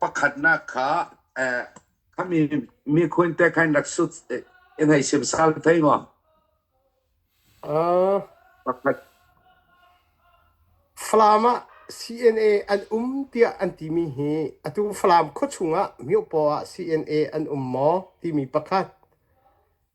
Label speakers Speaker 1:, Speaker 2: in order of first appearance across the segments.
Speaker 1: Pakhatnak kha khami mikhuin te khan rak sut i ngeisim sal thei maw? Pakhat Falam ah CNA an um tiah an timi hi atu Falam khuachung ah Myopaw ah CNA an um maw timi pakhat.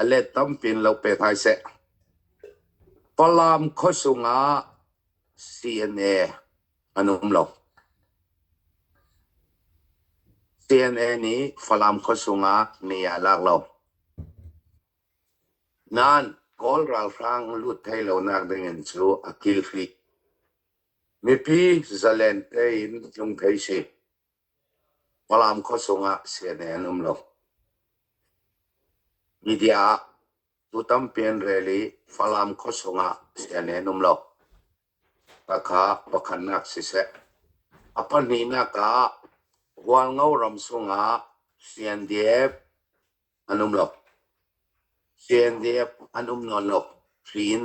Speaker 1: A let tampi in lo pe hna seh. Falam khuasung ah CNA an um lo. CNA nih Falam khuasung ah mi aa lak lo. Nain, Kawl ralhrang lut thai lonak dingin cu a kilfi. Mipi zalen tein lung thei si. Falam khuasung ah sene an um lo. Media ah tu tampi an rel i Falam khuasung ah sene an um lo. Hakha pakhatnak siseh, a pahnihnak ah Hualngo ram sung ah CNDF an um lo. CNDF an um nawn lo. Hri in.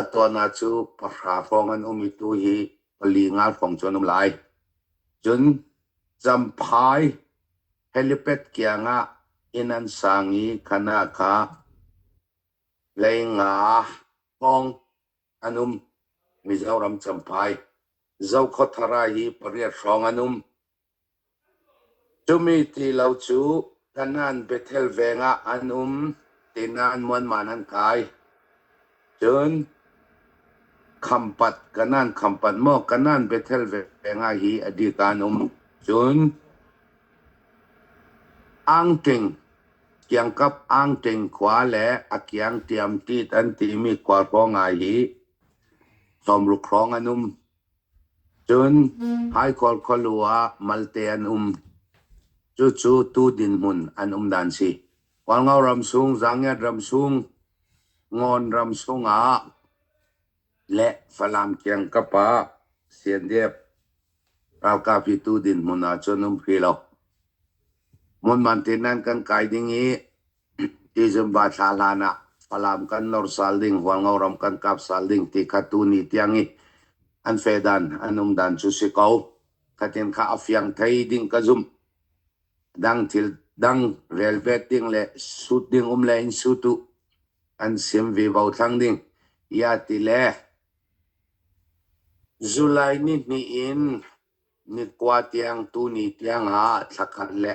Speaker 1: A tuahnak cu pahra hrawng an um i tu hi pali nga hrawng cu an um lai. Cun Champhai helipad kiang ah inn an sang i khan ah kha lei nga hrawng an um. Mizoram Champhai. Zokhawthara hi pariat hrawng an um. Cumi ti lo cu Kanaan Bethel vengah an um tinak muanman an kai. Cun Khampat, Kanaan Khampat maw Kanaan Bethel vengah hi a dik ah an um. Cun Angṭing, kiangkap Angṭing khua le a kiang ṭiamṭit an timi khua hrawng ah hi sawmruk hrawng an um. Cun hmaikawr khualu ah malte an um. Cucu tu dinhmun an um dan si. Kawlngo ram chung, Zangiat ram chung, Ngawn ram chung ah le Falam kiangkap ah Siandiep ralkap hi tu dinhmun ahcun um hri lo. Hmunhman te nan kan kai ding i December thla hlan ah Falam kan nawr sal ding, Hualngo ram kan kap sal ding ti kha tuni tiang i an feh dan, an um dan cu si ko. Khatin kha a fiang thei ding ka zumh. Dang thil dang relvet ding le sut ding um le in sut u an sim ve vo thlang ding. Ia ti le July ni hnih in nikua tiang tuni tiang ah thla khat le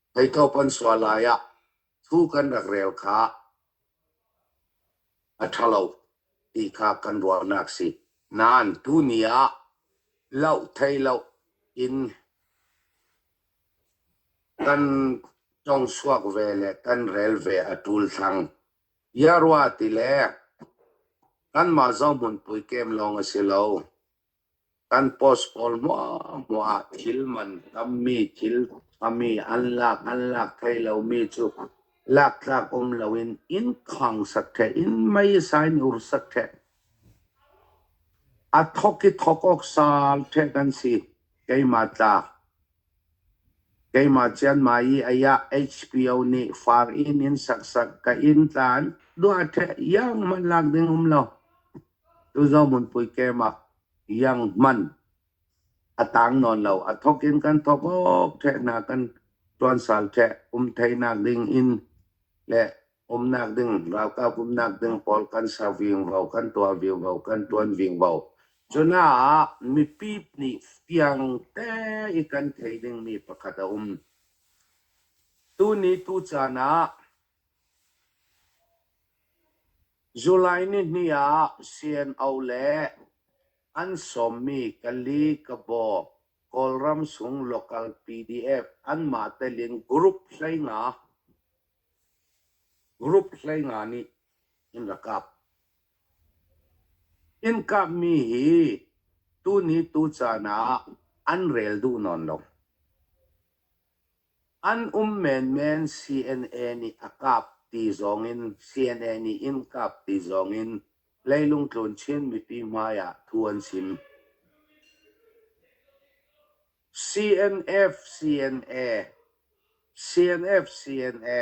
Speaker 1: Hleithop an sual lai ah thu kan rak rel kha a ṭhalo ti kha kan ruahnak a si. Nain tuni ah loh thei loh in kan congsuak ve le kan rel ve a ṭul cang. Biaruah ti le kanmah zong hmunpui kem lawng a si lo. Kan post pawl hmuahhmuah ah thilman tammi, thil hmami an lak an lak thai lomi cu laktlak um loin innkhang sak ṭheh, innmei sainur sak ṭheh, a thawk i thawk awk sal ṭheh kan si. Keimah tla. Keimah Cianmai i aiah HBO nih far inn in saksak ka inn tla an duah ṭheh, iang hmanh lak ding um lo. Tuzohmun pui keimah Yang hmanh a tang nawn lo. A thawk in kan thawk awk ṭheh hna kan tuansal ṭheh. Um theihnak ding in le umnak ding, ralkap umnak ding pawl kan ser vingvo, kan tuah vingvo, kan ṭuan vingvo. Cunaah mipi nih fiangte i kan thei dingmi pakhat a um. Tuni tu caan ah July nihnih ah CNO le an sawmmi Kali, Kabaw, Kawlram sung local PDF anmah telin group hlei nga nih an rak kap. Inn kapmi hi tuni tucaan ah an rel duh nawn lo. An um menmen CNA nih a kap ti zongin CNA nih in kap ti zongin leilung tlun Chin mipi hmai ah thu an chim. CNF CNA CNF CNA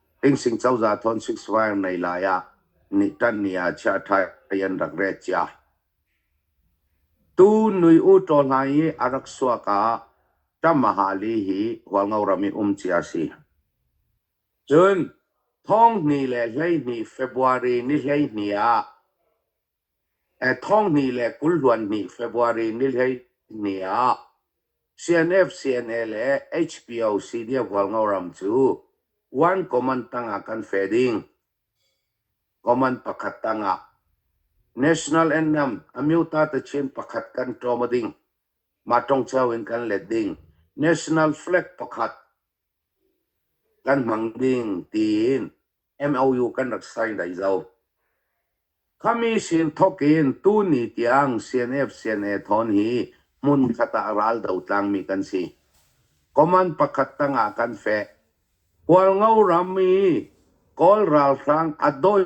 Speaker 1: Innsing cozah thawn ceasefire nei lai ah nih tanni ah chiah ṭhai an rak reh cia. Tu nui u ṭawl hna i a rak suak ah ṭam maha li hi hualngo ram i um cia si. Cun thong hnih le hlei hnih February ni hlei hnih ah Thonghni le kul hluanhnih February ni hleihnih ah CNF, CNA le HPOC Hniarhualngo ram cu one common tangah kan feh ding. Common pakhat tangah. National anthem Amyuta-Kachin pakhat kan ṭawm a ding. Mah ṭongcio in kan let ding. National flag pakhat kan hmang ding tiin MOU kan rak sign daih zo. Khami sin thawk in tuni tiang CNF CNA thawn hi hmun khat ah raldo tlangmi kan si. Command pakhat tangah kan feh. Khualngo ram i Kawl ralhrang a dawi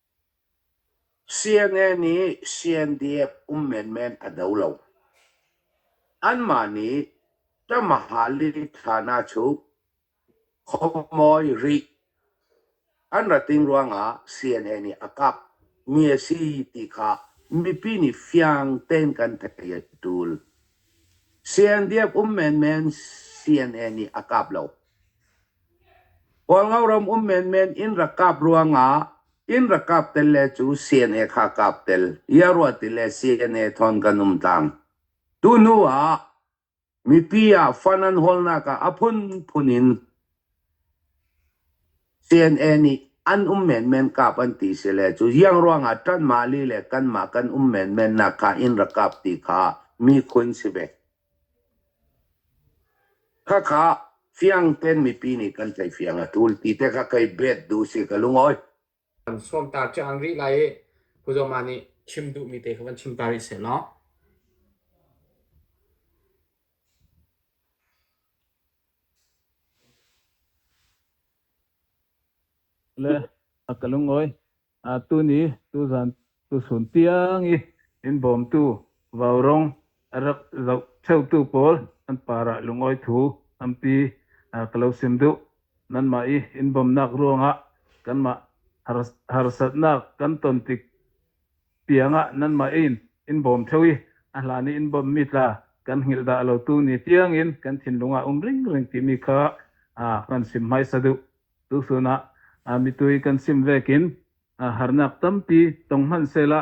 Speaker 1: CNA nih CNDF um menmen a do lo. Anmah nih Tamahah li thlaan ah chuh, khawmawi rih, an ra ting ruangah CNA nih a kap mi a si ti kha mipi nih fiang tein kan theih a tul. CNDF um menmen CNA nih a kap lo. Kawlngorom um menmen inn rak kap ruangah inn rak kap tel le cu CNA kha kap tel tiah ruah ti le CNA thawn kan um tang. Tu hnu ah mipi ah fund an hawlnak ah a phunphun in CNA nih an um menmen kap an ti si le cu ziang ruangah ṭanmah li le kanmah kan um menmennak kha inn rak kap ti kha mikhun si ve. Khakha fiangten mipi nih kan tlaihfiang a tul ti te kha kei bet duh si ka lungawi. Kan sawm ta ṭiah rih lai i kuzawmah nih chim duhmi te kha van chim ta rih sehlaw. Le a ka lungawi. Tuni tuzan tuchun tiang i inn bawmtu vaurung a rak zoh cheutu pawl an par ah lungawi thu tampi ka lo sim duh. Nanmah i inn bawmnak ruangah kanmah harsatnak kan ton tik tiangah nanmah in inn bawm theo i a hlan i inn bawmmi tla kan hngilh dah lo tu ni tiangin kan thinlung ah um ringring timi kha kan sim hmaisa duh. Tukhun ah mitui kan sim vekin harnak tampi tong hmanhsehla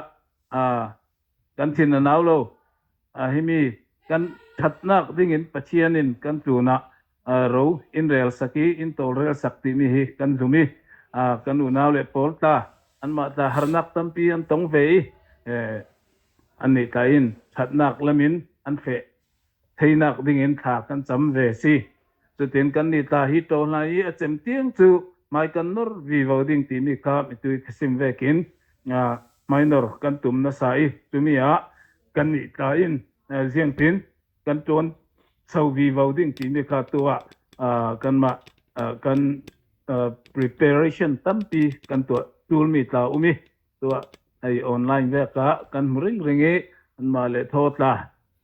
Speaker 1: kan thin a nau lo. Himi kan thatnak dingin Pathian in kan tlunak ro in rel sak i in tawlrel sak timi hi kan zum i kan unau le pawl tla anmah tla harnak tampi an tong ve i annih tla in thatnak lamin an feh. theinak dingin thla kan cam ve si. Cutin kannih tla hi ṭo hna i a cem tiang cu hmai kan nor vivo ding timi kha mitui thisim vekin hmainor kan tum nasa i cumi ah kannih tla in ziangtin kan ṭuan so vivo ding timi kha tu ah kanmah kan preparation tampi kan tuah tulmi tla um i tuah ei online vek ah kan ring ring i an mah le tho tla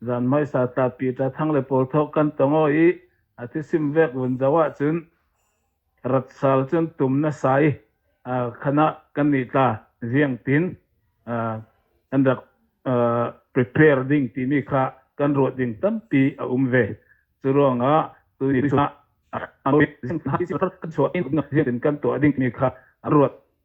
Speaker 1: zan mai sa ta pi ta thang le pawl tho kan tongo i a thi sim vek vun zo ah cun rat sal cun tum na sai khana kan ni tla viang tin an rak prepare ding timi kha kan ruat ding tampi a um ve cu ruangah tu ni kan tuah ding mi kha ruat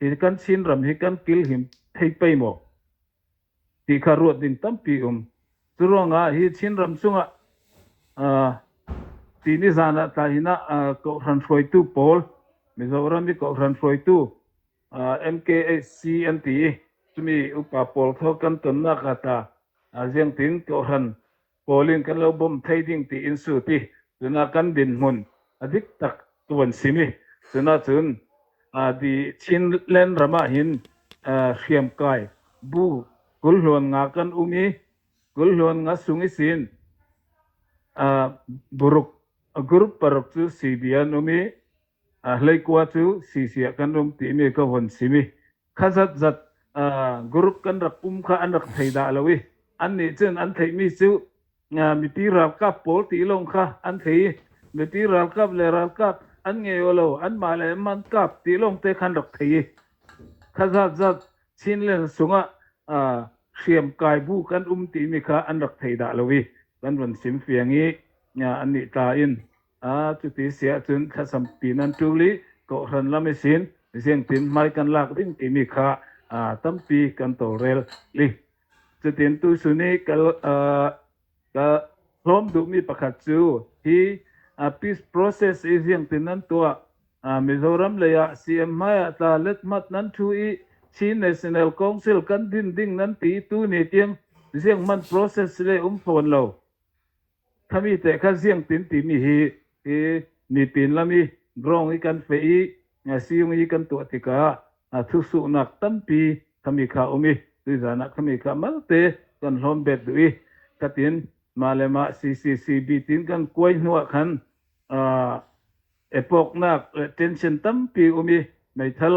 Speaker 1: In kan Chinram hi kan kil him thei pei maw? Ti kha ruat ding tampi um. Cu ruangah hi Chinram chungah uh, ti ni zan ah tla hina uh, kohran hruaitu pawl Mizoram i kohran hruaitu uh, MKHC an ti. Cumi upa pawl kho kan tonnak ata uh, ziang ting kohran Kawl in kan lo bawmh thai ding tiin su ti. Cunah kan dinhmun a dik tak tuan sim i cunah cun uh, di Chinland ram ah hin uh, hriamkai bu kulhluan nga kan um i kulhluan nga sung i sin uh, buruk group paruk cu CB an um i uh, hleikua cu CC ah kan um ti mi ka hon sim i kha zat zat group kan rak um kha an rak thei dah lo i an nih cun an theihmi cu mipi ralkap pawl ti lawng kha an thei mipi ralkap le ralkap an ngei lo anmah le man kap ti lawng te khan rak thei i kha zat zat chin len sungah hriam kai bu kan um timi kha an rak thei dah lo i kan van sim fiang i an nih tla in Cuti si ahcun khasampi nan ṭul i kawhhran lam i sin zingtin hmai kan lak ding timi kha tampi kan tawlrel rih. Cutin tusun i ka ka hlawm duhmi pakhat cu hi peace process i ziangtin nan tuah Mizoram lei ah CM hmaiah tla letmat nan ṭhu i Chin National Council kan din ding nan ti tu ni tiang zianghman process le um fawn lo. Khami te kha ziang tin timi hi hi nitin lam i drong i kan feh i siung i kan tuah tikah thusuhnak tampi khami kha um i tuizan ah khami kha malte kan hlawm bet duh i katin mah le mah CCCB tin kan kuai hnuah khan epawknak tension tampi um i meithal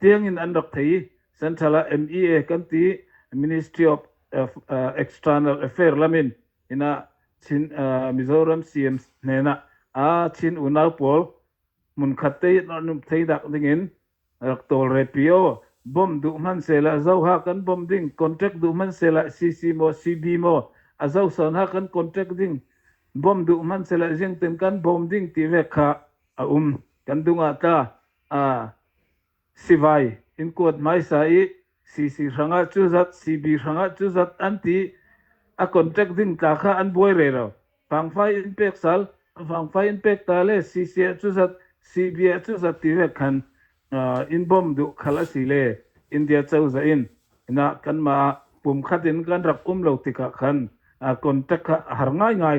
Speaker 1: tiangin an rak thei. Central ah MEA kan ti. Ministry of External Affairs lam in inah Chin Mizoram CM hnenah a Chin unau pawl hmunkhat te num thei dak dingin rak tawlre pio bom duh hman sela zoha kan bom ding contract duh hman sela CC mo CB mo a zo son ha kan contract ding bom duh hman sela jing ten kan bom ding ti ve kha a um kan dunga ta Aa, sivai, in kuat hmaisa i CC hrangah cu zat, CB hrangah cu zat an ti. A contract ding tla kha an buai re ro. Fangfai in pek sal, fangfai in pek ta le CC ah cu zat, CB ah cu zat ti ve khan uh, in bom duh khal a si le India cozah in na kanmah pum khat in kan rak um lo tikah khan uh, contract kha har ngai ngai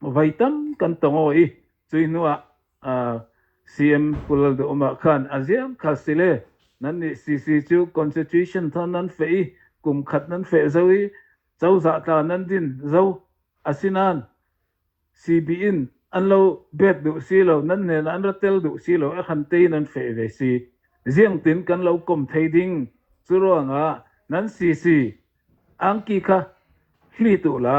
Speaker 1: Voi tam kan tong aw i cui hnu ah uh, CM pulal dum ah khan a ziam kha si le nan nih CC cu constitution thon nan fe i kum khat nan fe zo i cozah tla nan din zo asinan CB in an lo bet duh si lo nan nen an ratel duh si lo e khan te nan fe ve si ziang tin kan lo kom thei ding cu ruang ah nan CC angki kha hli tu la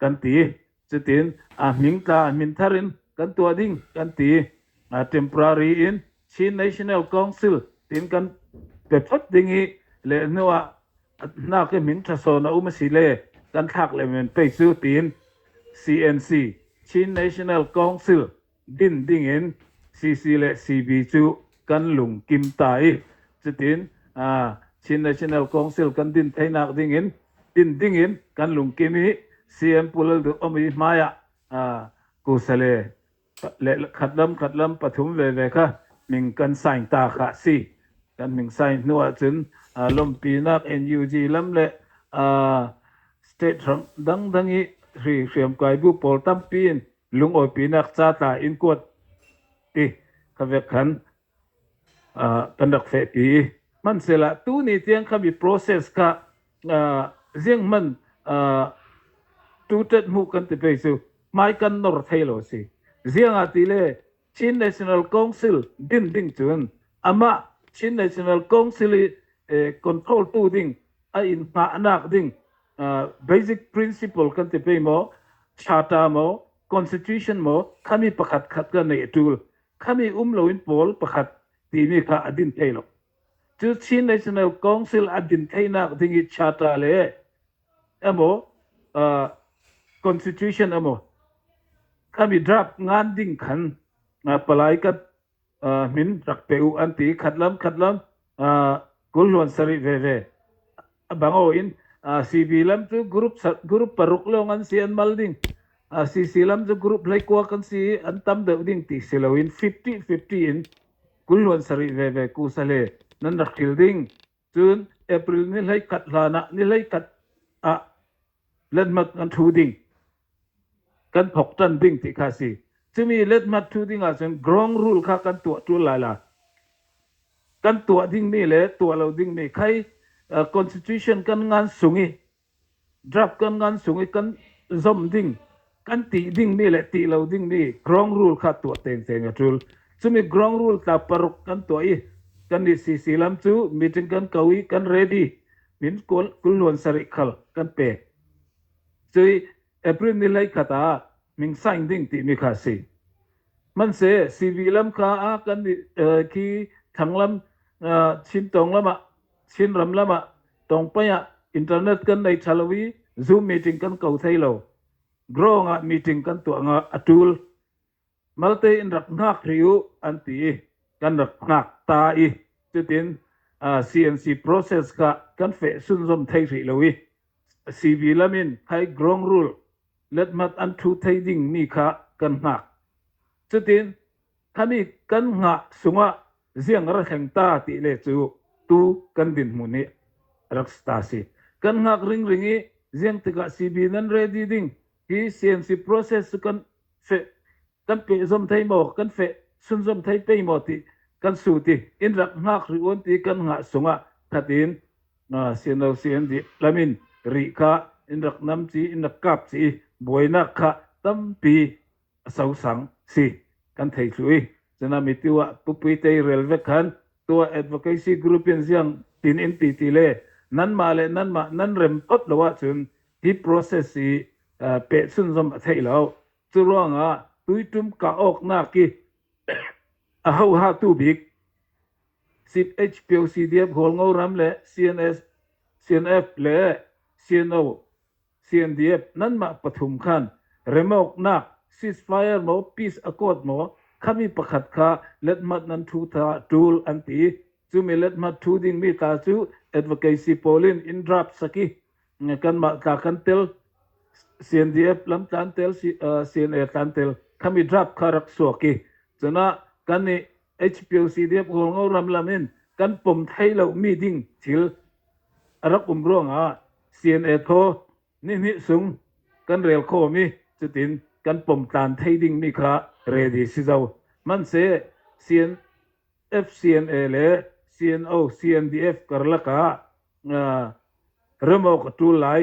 Speaker 1: kan ti. Cutin aa hmingtla ah hmin thar in kan tuah ding kan ti. Uh, temporary in Chin National Council tin kan pe phot ding i le hnu ah nak ke min thaso na um si le kan thlak le men pe cu tin CNC Chin National Council din dingin CC le CB cu kan lungkim ta i cutin Chin National Council kan din theinak dingin din dingin kan lungkim i CM Pulal um i hmaiah kusale le khatlam khatlam pathum veve kha ming kan sign ta kha si kan ming sign hnu ahcun lompinak NUG lam le state dang dang i hri hriamkai bu pawl tampi in lungawipinak ca tla in kuat ti kha vek khan kan rak fehpi hmanhsela tuni tiang kha mi process kha ziang hman tu tet mu kan ti pei cu hmai kan nor thei lo si ziang ah ti le Chin National Council din ding cun amah Chin National Council i control tu ding a in nghahnak ding basic principle kan ti pe mo charter mo constitution mo khami pakhat khat ka nei tul khami um lo in pawl pakhat timi kha a din thei lo cu Chin National Council a din theinak ding i charter le constitution kami draft ngan ding khan palai kat min rak pe u an ti khatlam khatlam kul ruan sarih veve bango in CB lam cu group group paruk long an si an mal ding CC lam cu group lai kwa kan si an tam deuh ding ti si lo in 50 50 in kul ruan sarih veve ku sale nan rak thil ding Cun April ni hleikhat hlan ah ni hleikhat ah letmat kan thu ding kan thok tan ding ti kha si cumi letmat thu ding ahcun ground rule kha kan tuah tul lai la kan tuah dingmi le tuah lo dingmi khai constitution kan ngan sung i Drug kan ngan chung i kan zomh ding, kan tih dingmi le tih lo dingmi ground rule kha tuah tengseng a ṭul. Cumi ground rule tla paruk kan tuah i kan i CC lam cu meeting kan ko i kan ready min kul kulnuan sarih khal kan pek. Cui April ni hlei khat ah ming saing ding timi kha a si. Manse CV lam kha a kan i, uh, khi thang lam uh, chintong lam ah Chinram lam ah tongpei ah internet kan nei thalo i Zoom meeting kan ko thai lo. Grong ah meeting kan tuah nga a tul. Malte in rak ngak ri u an ti i kan rak ngak ta i cutin uh, CNC process ka kan fe sunzom thai ri lo i CB lamin khai grong rule let mat an thu thai ding mi kha kan ngak. Cutin Khan i kan hngah sungah ziang ra thleng ta ti le cu tu kan dinhmun hi rak si ta si. Kan hngak ringring i ziang tikah CB nan ready ding hi CNC process cu kan fe kan pe zom thei maw kan fe sunzom thei pe maw ti kan su ti in rak hngak ri uan ti kan hngah sungah thatin CNO CND lamin ri kha in rak nam ci in rak kap ci buainak kha tampi a sosang si kan thei thlu i cuna mi tu ah pupi te rel vek khan tu advocacy group in ziang tin in pi ti le nan ma le nan ma nan rem pot lo ah cun hi process hi pe sun zom a thei lo cu ruang ah tuitum ka ok na ki a ho ha tu bik sip HPOCDF hol ngo ram le CNS CNF le CNO Siandiat, nanmah pathum khan remawknak ceasefire maw peace accord maw khami pakhat kha letmat nan ṭhu ta ṭul an ti. Cumi letmat ṭhu dingmi ta cu advocacy pawl in in draft saki kanmah tla kan tel CNDF lam tlan tel CNA tlan tel khami draft kha rak suak i cuna kan i HPLC Liapawl ngo ram lam in kan pom thai lomi ding thil a rak um ruangah CNA thaw nihnih sung kan rel khawm i cutin kan pom tlan thai dingmi kha ready si zo man se CNF CNA le CNO CNDF karlak ah ramok a tul lai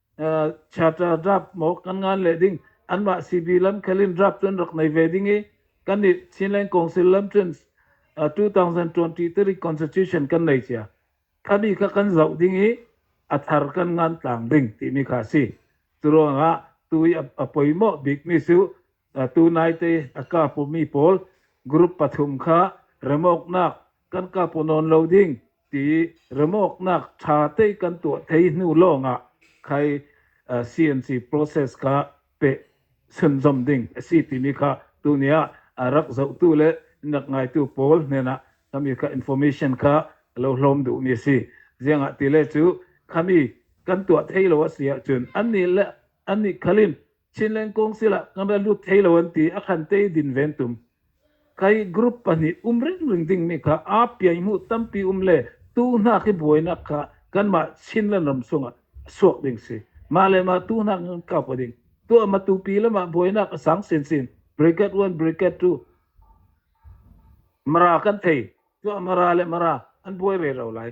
Speaker 1: charter draft maw kan ngan le ding anmah CB lam khelin draft cun rak nei ve ding i kan i Chinland Council lam cun uh, 2023 constitution kan nei cia khami kha kan zoh ding i a thar kan ngan tlang ding timi kha si turuang ah tu i a poi mo bik mi su tu nai te a ka pu mi pawl group pathum kha remok nak kan ka pu non lo ding ti remawknak ṭha tein kan tuah thai hnu lawngah khai CNC process kha peh sunzom ding a si timi kha tuni ah rak zohtu le nak ngaitu pawl hnenah kami kha information kha lo hlawm duh ni a si ziangah ti le cu khami kan tuah thai lo a si ahcun annih le annih khalin Chinland kong silah kan ra lut thei lo an ti a khan te din ven tum kai group pahnih um ring ring ding mi kha a piai mu tampi um le tu hna khi buainak kha kanmah Chinland ram sungah suak ding si ma le ma tu hna kan kau pa ding tu ma tu pi lama buainak a sang sin sin bracket 1 bracket 2 mara kan thei tu mara le mara an buai re ro lai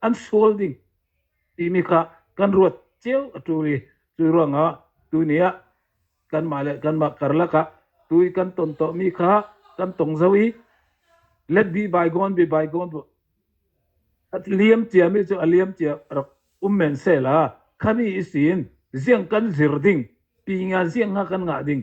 Speaker 1: an sual ding timi kha kan ruat cio a ṭul i cu ruangah tuni ah kanmah le kanmah karlak ah tu i kan ton tohmi kha kan tong zau i let be bygone be bygone bu at liam ciami cu a liam cia rak um men sela khani isin ziang kan zir ding pi nga ziang ha kan ngah ding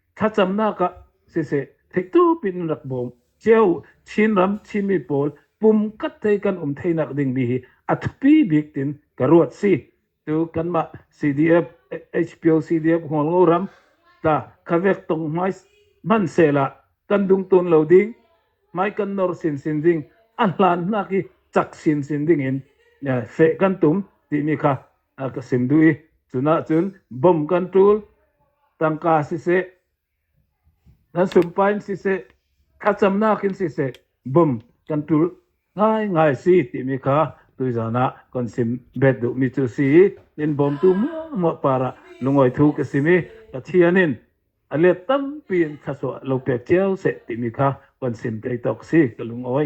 Speaker 1: thlacamnak ah siseh theiktuk in an rak bawm cio chinram chinmi pawl pumkat thei kan um theinak ding mi hi a thupi bik tin ka ruat si tu kanmah CDF HPO CDF Hngolngo ram ta khawek tong hmai man sela kan dung ton lo ding mai kan nor sin sin ding a hlan nak hi chak sin sin ding in fe kan tum timi kha a ka sim duh i cunah cun bom kan ṭul tangka siseh kan sumpai in siseh thlacamnak in siseh bom kan ṭul ngaingai si timi kha tuizan ah kan sim bet duhmi cu si i in bawmtu muamua parah lungawi thu ka sim i Pathian in a let tampi in thluachuah lo pek cio seh timi kha kan sim thei tawk si ka lungawi.